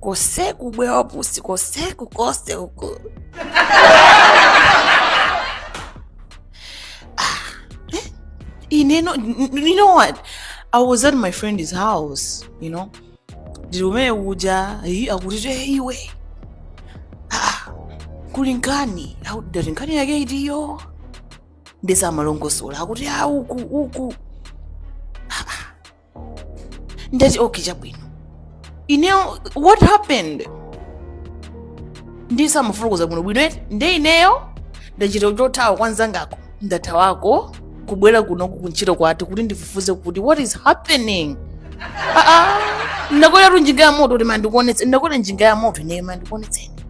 kose kubwe wapusi kose kukose uku ineyo you know what i was at my friend's house you know ndili kumene kuja "Hey, akuti te iwe Ah, kuli nkhani Au- ndati nkhani yake itiyo ndisamalongosola akuti a uku uku ndati okay chabwino ineyo what happened ndisamufurukuza bwino bwino eti nde ineyo ndachita chothawa kwa nzangako ndathawako kubwera kuno kuntchito kwathu kuti ndifufuze kuti what is happening Ah, ah. ndakwera tu njinga ya moto kuti ima ndikuonetse ndakwera njinga ya moto ineyo ima ndikuonetseni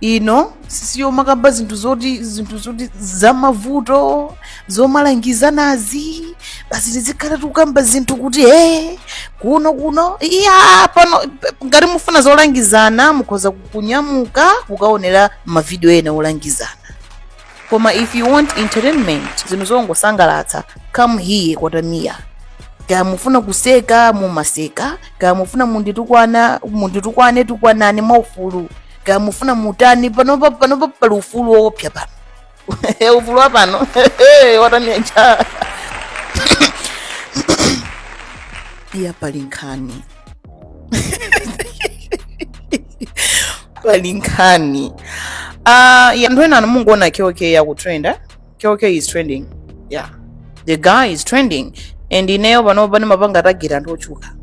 ino si yomakamba zinthu zoti zinthu zoti zamavuto zomalangizanazi basi tizikhala tikukamba zinthu kuti e kuno kuno iya pano pe- ngati mufuna zolangizana mukhoza kunyamuka kukaonera mavidiyo ena olangizana koma if you want entertainment zinthu zongosangalatsa come here kwa Tamia kaya mufuna kuseka mumaseka kaya mufuna munditukwana munditukwane tukwanani mwaufulu kaya mufuna mutani panopa panopa pali ufulu woopsa pano ufulu wa pano wa Tamia Ja iya pali nkhani pali nkhani uh, ya anthu enanu mungoona Kell Kay akutrenda Kell Kay is trending yeah the guy is trending and ineyo panopa ndimapanga target anthu otchuka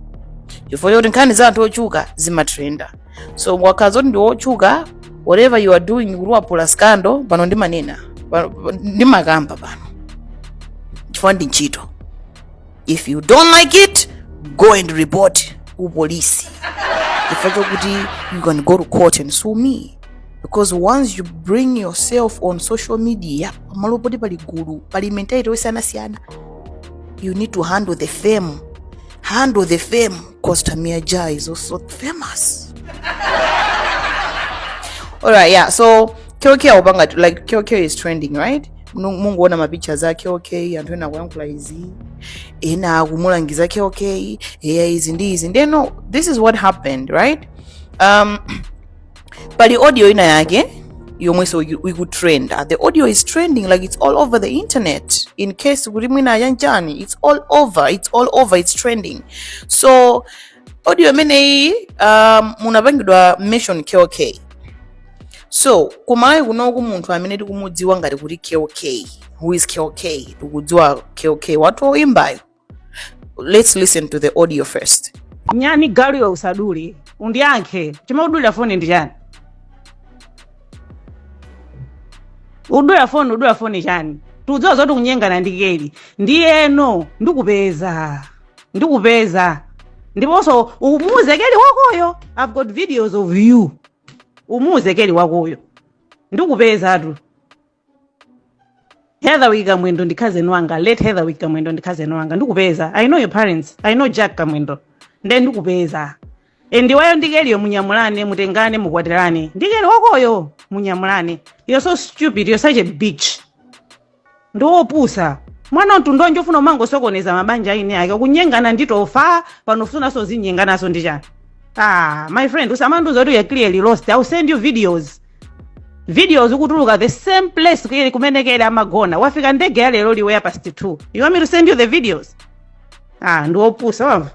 chifukwa choti nkhani za anthu otchuka zimatrenda so ukakhala zoti ndi wotchuka whatever you are doing kuti waphula scandal pano ndimanena pano- ndimakamba pano chifukwa ndi ntchito if you don't like it go and report ku polisi chifukwa chokuti you can go to court and sue me because once you bring yourself on social media pamalo poti pali gulu pali mentality osiyanasiyana you need to handle the fame handle the fame because tamia ja is also famous alright yeah so kyokyo akupanga like kyokyo is trending right Nu- mungoona mapictures a Kell Kay anthu ena akuyankhula izi ena akumulangiza Kell Kay eya izi ndi izi ndiye no this is what happened right um, pali audio ina yake yomwenso iku- ikutrenda the audio is trending like it's all over the internet in case kuti mwina ayanjani it's all over it's all over it's trending so audio imeneyi um, munapangidwa mention Kell Kay so ku Malawi kunoku munthu amene tikumudziwa ngati kuti Kell Kay who is Kell Kay tikudziwa Kell Kay wathu oyimbayo let's listen to the audio first nyani galu iwe usadule undiyankhe chomwe udulira foni ndi chani udula foni udula foni chani tudziwa zoti ukunyengana ndi Kell ndiyeno ndikupeza ndikupeza ndiponso umuuze Kell wakoyo i've got videos of you umuuze keli wakoyo ndikupezatu heatherwick kamwendo ndi cousin wanga late heatherwick kamwendo ndi cousin wanga ndikupeza i know your parents i know jack kamwendo nde ndikupeza and iweyo ndi keliyo munyamulane mutengane mukwatirane ndi keli wakoyo munyamulane you're so stupid you're such a bitch ndi opusa mwana mtundu wanji ufuna umangosokoneza mabanja a eni ake kunyengana ndi tofa pano ufunaso uzinyenganaso ndi chani ah my friend usamandiuza kuti you're clearly lost ill send you videos videos ukutuluka the same place kuyeli kumene keli amagona wafika ndege ya lero iwe ya past 2 you want me to send you the videos ah ndi opusa wamva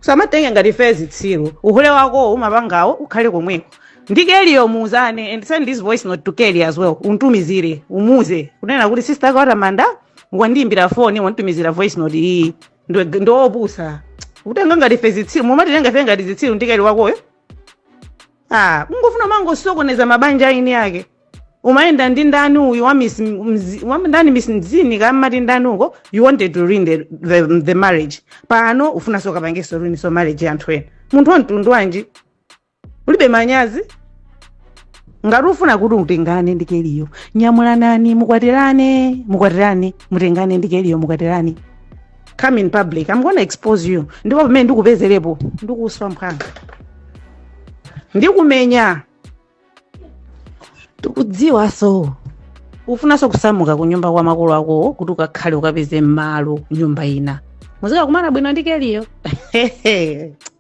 usamatenge ngati fe zitsiru uhule wako umapangawo ukhale komweko ndi keliyo muuzane and send this voice note to keli as well untumizire umuuze kunena kuti sister wake wa tamanda wandiimbira foni wanditumizira voice note iyi Ndi- ndiopusa utenga ngati fe zitsiru mumatitenga fe ngati zitsiru ndi keli wakoyo ah ungofuna umangosokoneza mabanja a eni ake umayenda ndi ndani uyu wa miss Mzi- wa ndani miss mzini kaya amati ndani uko you wanted to ruin the, the, the marriage pano ufunanso ukapangenso ruin so marriage ya anthu ena munthu wa mtundu wanji ulibe manyazi ngati ufuna kuti utengane ndi keliyo nyamulanani mukwatirane mukwatirane mutengane ndi keliyo mukwatirane come in public i'm gonna expose you ndipo pamene ndikupezerepo ndikuswa mphwanga ndikumenya tikudziwaso ufunanso kusamuka ku nyumba kwa makolo akowo kuti ukakhale ukapeze malo nyumba ina muzikakumana bwino ndi keliyo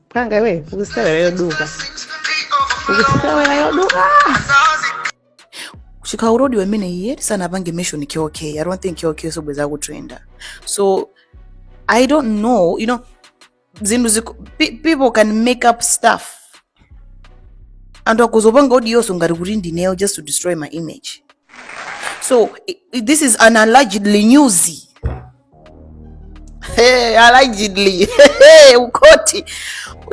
phwanga iwe ukusewera yoduka ukusewera yoduka chifukwa audio imeneyi eti sanapange mention kk i don't think kk sobweza kutrenda so i don't know you know zinthu ziku- pe- people can make up stuff anthu akhoza kupanga audionso ngati kuti ndineyo just to destroy my image so i- i- this is an allegedly news Hey, allegedly Hey, kukhothi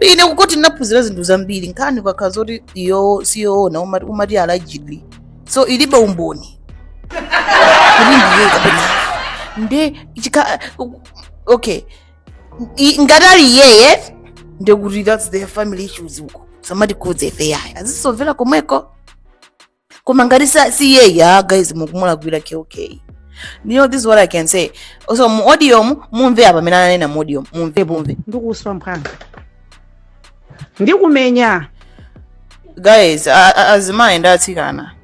ine kukhothi ndinaphunzira zinthu zambiri nkhani ikakhala zoti iyo siyoona umati, umati allegedly so ilibe umboni kuti ndiye kapena nde chika okay I- ngati ali iyeye ndekuti that's their family issues uko samatikhudza ife yayi azisovera komweko koma ngati sa- si iyeyi ah guys mukumulakwira kk you know this is what i can say so mu audio mu mumve apa amene ananena mu audio mumve mumve ndikuswa mphwanga ndikumenya guys a- a- azimayi ndi atsikana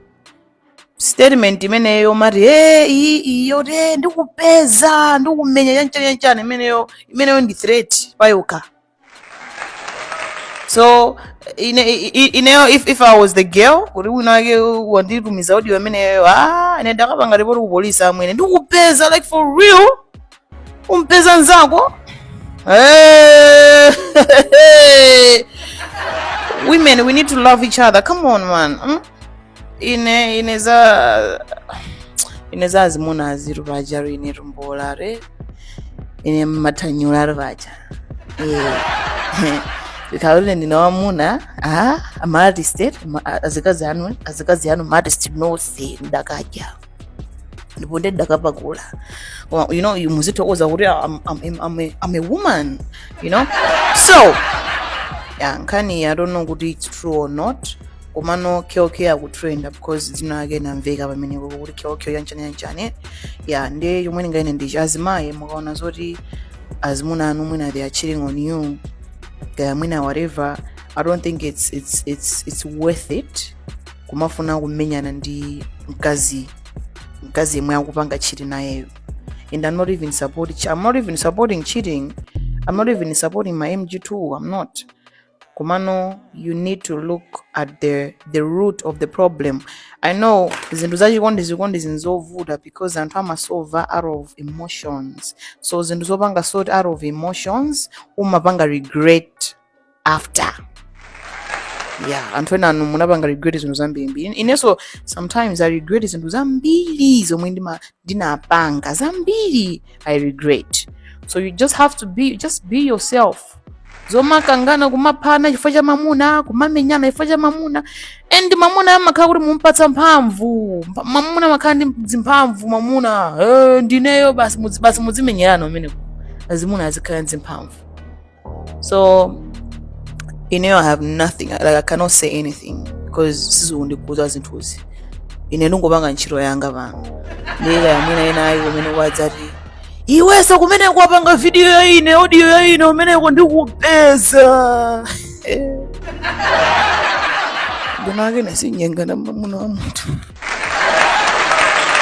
statement imeneyo mati e iyi yoti ndikupeza ndikumenya chanchani chanchani imeneyo imeneyo ndi threat payokha so ine, i- i- ineyo if, if i was the girl kuti winawake wanditumiza audio imeneyo ah, ine ndakapanga ripoti ku polisi amwene ndikupeza like for real kumpeza nzako Eh, women we need to love each other come on man mm? ine ine za ine za azimuna aziru vaja rine rumbola re ine matanyula ri vaja ikalule ndine wamuna a amaartist azikazi anu azikazi anu maartist nose ndakadya ndipo nde ndakapakula Koma, you know you muzitokoza kuti I'm, I'm, I'm, I'm, a, I'm a woman you know so yeah, nkhani i don't know kuti it's true or not komano Kell Kay akutrenda because dzina lake linamveka pamene kuko kuti Kell Kay yanchani yanchani ya nde chomwe ndinganene ndichi azimayi mukaona zoti azimuna anu mwina they are cheating on you kaya mwina whatever i don't think it's, it's, it's, it's worth it kumafuna kumenyana ndi mkazi mkazi yemwe akupanga cheat nayeyo and i'm not even support i'm not even supporting cheating i'm not even supporting my mg2 i'm not komano you need to look at the, the root of the problem i know zinthu zachikondi zikondi ndi zovuta because anthu amasova out of emotions so zinthu zopanga sort out of emotions umapanga regret after yeah anthu enanu munapanga regret zinthu zambirimbiri inenso sometimes i regret zinthu zambiri zomwe ndima- ndinapanga zambiri i regret so you just have to be just be yourself zomakangana kumaphana chifukwa cha mamuna kumamenyana chifukwa cha mamuna and mamuna amakhala kuti mukumpatsa mphamvu Mpa- mamuna amakhala ndi zimphamvu mamuna eh, ndineyo basi mudzi- basi mudzimenyerana kumeneko azimuna azikhala ndi zimphamvu so ineyo i have nothing like i cannot say anything because sizikundikhudza zinthuzi ine ndingopanga ntchito yanga pano ndiyika yamwina inayi kumene kwadzati iwenso kumene kwapanga vidiyo ya ine audio ya ine kumeneko ndikupeza ndinake ine sindinyengana na mamuna wa munthu